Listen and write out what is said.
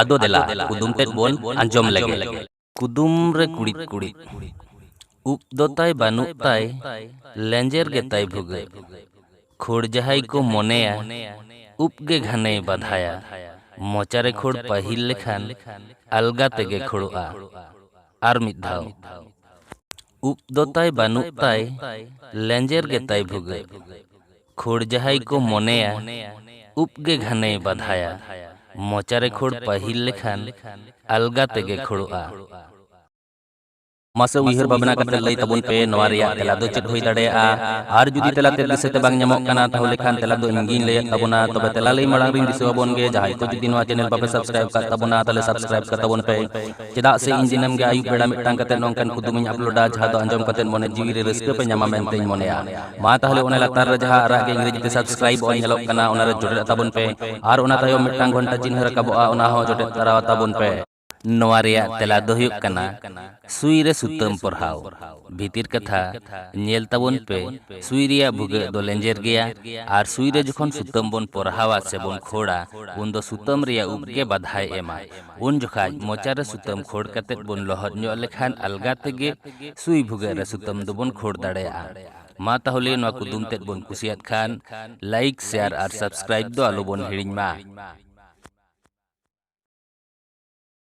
ᱟᱫᱚ ᱫᱮᱞᱟ ᱠᱩᱫᱩᱢ ᱛᱮᱫ ᱵᱚᱱ ᱟᱸᱡᱚᱢ ᱞᱮᱜᱮ ᱠᱩᱫᱩᱢ ᱨᱮ ᱠᱩᱲᱤᱫ ᱠᱩᱲᱤᱫ ᱩᱵ ᱫᱚ ᱛᱟᱭ ᱵᱟᱹᱱᱩᱜ ᱛᱟᱭ ᱞᱮᱸᱡᱮᱨ ᱜᱮ ᱛᱟᱭ ᱵᱷᱩᱜᱟᱹᱜ ᱠᱷᱳᱲ ᱡᱟᱦᱟᱸᱭ ᱠᱚ ᱢᱚᱱᱮᱭᱟ ᱩᱵ ᱜᱮ ᱜᱷᱟᱱᱮᱭ ᱵᱟᱫᱷᱟᱭᱟ ᱢᱚᱪᱟ ᱨᱮ ᱠᱷᱳᱲ ᱯᱟᱹᱦᱤᱞ ᱞᱮᱠᱷᱟᱱ ᱟᱞᱜᱟ ᱛᱮᱜᱮ ᱠᱷᱳᱲᱚᱜᱼᱟ ᱟᱨ ᱢᱤᱫ ᱫᱷᱟᱣ ᱩᱵ ᱫᱚ ᱛᱟᱭ ᱵᱟᱹᱱᱩᱜ ᱛᱟᱭ ᱞᱮᱸᱡᱮᱨ ᱜᱮ ᱛᱟᱭ ᱵᱷᱩᱜᱟᱹᱜ᱾ ᱠᱷᱳᱲ ᱡᱟᱦᱟᱸᱭ ᱠᱚ ᱢᱚᱱᱮᱭᱟ ᱩᱵ ᱜᱮ ᱜᱷᱟᱱᱮᱭ ᱵᱟᱫᱷᱟᱭᱟ᱾ ᱢᱚᱪᱟ ᱨᱮ ᱠᱷᱳᱲ ᱯᱟᱹᱦᱤᱞ ᱞᱮᱠᱷᱟᱱ ᱟᱞᱜᱟ ᱛᱮᱜᱮ ᱠᱷᱳᱲᱚᱜᱼᱟ᱾ ᱢᱟᱥᱮ ᱩᱭᱦᱟᱹᱨ ᱵᱷᱟᱵᱽᱱᱟ ᱠᱟᱛᱮ ᱞᱟᱹᱭ ᱛᱟᱵᱚᱱ ᱯᱮ ᱱᱚᱶᱟ ᱨᱮᱭᱟᱜ ᱛᱮᱞᱟ ᱫᱚ ᱪᱮᱫ ᱦᱩᱭ ᱫᱟᱲᱮᱭᱟᱜᱼᱟ? ᱟᱨ ᱡᱩᱫᱤ ᱛᱮᱞᱟ ᱛᱮᱫ ᱫᱤᱥᱟᱹ ᱛᱮ ᱵᱟᱝ ᱧᱟᱢᱚᱜ ᱠᱟᱱᱟ ᱛᱟᱦᱚᱞᱮ ᱠᱷᱟᱱ ᱛᱮᱞᱟ ᱫᱚ ᱤᱧ ᱜᱮᱧ ᱞᱟᱹᱭᱟᱫ ᱛᱟᱵᱚᱱᱟ᱾ ᱛᱚᱵᱮ ᱛᱮᱞᱟ ᱞᱟᱹᱭ ᱢᱟᱲᱟᱝ ᱨᱮᱧ ᱫᱤᱥᱟᱹ ᱟᱵᱚᱱ ᱜᱮ ᱡᱟᱦᱟᱸᱭ ᱠᱚ ᱡᱩᱫᱤ ᱱᱚᱶᱟ ᱪᱮᱱᱮᱞ ᱵᱟᱯᱮ ᱥᱟᱵᱽᱥᱠᱨᱟᱭᱤᱵᱽ ᱟᱠᱟᱫ ᱛᱟᱵᱚᱱᱟ ᱛᱟᱦᱚᱞᱮ ᱥᱟᱵᱽᱥᱠᱨᱟᱭᱤᱵᱽ ᱠᱟᱛᱟᱵᱚᱱ ᱯᱮ᱾ ᱪᱮᱫᱟᱜ ᱥᱮ ᱤᱧ ᱫᱤᱱᱟᱹᱢ ᱜᱮ ᱟᱹᱭᱩᱵ ᱵᱮᱲᱟ ᱢᱤᱫᱴᱟᱝ ᱠᱟᱛᱮ ᱱᱚᱝᱠᱟᱱ ᱠᱩᱫᱩᱢ ᱤᱧ ᱟᱯᱞᱳᱰᱟ ᱡᱟᱦᱟᱸ ᱫᱚ ᱟᱸᱡᱚᱢ ᱠᱟᱛᱮ ᱢᱚᱱᱮ ᱡᱤᱣᱤ ᱨᱮ ᱨᱟᱹᱥᱠᱟᱹ ᱯᱮ ᱧᱟᱢᱟ ᱢᱮᱱᱛᱮᱧ ᱢᱚᱱᱮᱭᱟ ᱢᱟ ᱛᱟᱦᱞᱮ ᱚᱱᱟ ᱞᱟᱛᱟᱨ ᱨᱮ ᱡᱟᱦᱟᱸ ᱟᱨᱟᱜ ᱜᱮ ᱤᱝᱨᱮᱡᱤ ᱛᱮ ᱥᱟᱵᱥᱠᱨᱟᱭᱤᱵ ᱚᱞ ᱧᱮᱞᱚᱜ ᱠᱟᱱᱟ ᱚᱱᱟ ᱨᱮ ᱡᱚᱴᱮᱫ ᱛᱟᱵᱚᱱ ᱯᱮ ᱟᱨ ᱚᱱᱟ ᱛᱟᱭᱚᱢ ᱢᱤᱫᱴᱟᱝ ᱜᱷᱚᱱᱴᱟ ᱪᱤᱱᱦᱟᱹ ᱨᱟᱠᱟᱵᱚᱜᱼᱟ ᱚᱱᱟ ᱦᱚᱸ ᱡᱚᱴᱮᱫ ᱛᱟᱨᱟ ᱛᱟᱵᱚᱱ ᱯᱮ ᱱᱚᱣᱟ ᱨᱮᱭᱟᱜ ᱛᱮᱞᱟ ᱫᱚ ᱦᱩᱭᱩᱜ ᱠᱟᱱᱟ ᱥᱩᱭ ᱨᱮ ᱥᱩᱛᱟᱹᱢ ᱯᱚᱨᱦᱟᱣ ᱵᱷᱤᱛᱤᱨ ᱠᱟᱛᱷᱟ ᱧᱮᱞ ᱛᱟᱵᱚᱱ ᱯᱮ ᱥᱩᱭ ᱨᱮᱭᱟᱜ ᱵᱷᱩᱜᱟᱹᱜ ᱫᱚ ᱞᱮᱸᱡᱮᱨ ᱜᱮᱭᱟ ᱟᱨ ᱥᱩᱭ ᱨᱮ ᱡᱚᱠᱷᱚᱱ ᱥᱩᱛᱟᱹᱢ ᱵᱚᱱ ᱯᱚᱨᱦᱟᱣᱟ ᱥᱮ ᱵᱚᱱ ᱠᱷᱳᱲᱟ ᱩᱱ ᱫᱚ ᱥᱩᱛᱟᱹᱢ ᱨᱮᱭᱟᱜ ᱩᱵ ᱜᱮ ᱵᱟᱫᱷᱟᱭ ᱮᱢᱟ ᱩᱱ ᱡᱚᱠᱷᱟᱡ ᱢᱚᱪᱟ ᱨᱮ ᱥᱩᱛᱟᱹᱢ ᱠᱷᱳᱲ ᱠᱟᱛᱮ ᱵᱚᱱ ᱞᱚᱦᱚᱫ ᱧᱚᱜ ᱞᱮᱠᱷᱟᱱ ᱟᱞᱜᱟ ᱛᱮᱜᱮ ᱥᱩᱭ ᱵᱷᱩᱜᱟᱹᱜ ᱨᱮ ᱥᱩᱛᱟᱹᱢ ᱫᱚᱵᱚᱱ ᱠᱷᱳᱲ ᱫᱟᱲᱮᱭᱟᱜᱼᱟ ᱢᱟ ᱛᱟᱦᱚᱞᱮ ᱱᱚᱣᱟ ᱠᱩᱫᱩᱢ ᱛᱮᱫ ᱵᱚᱱ ᱠᱩᱥᱤᱭᱟᱫ ᱠᱷᱟᱱ ᱞᱟᱭᱤᱠ ᱥᱮᱭᱟᱨ ᱟᱨ ᱥᱟᱵᱥᱠᱨᱟᱭᱤᱵ ᱫᱚ ᱟᱞᱚᱵᱚᱱ ᱦᱤᱲᱤᱧ ᱢᱟ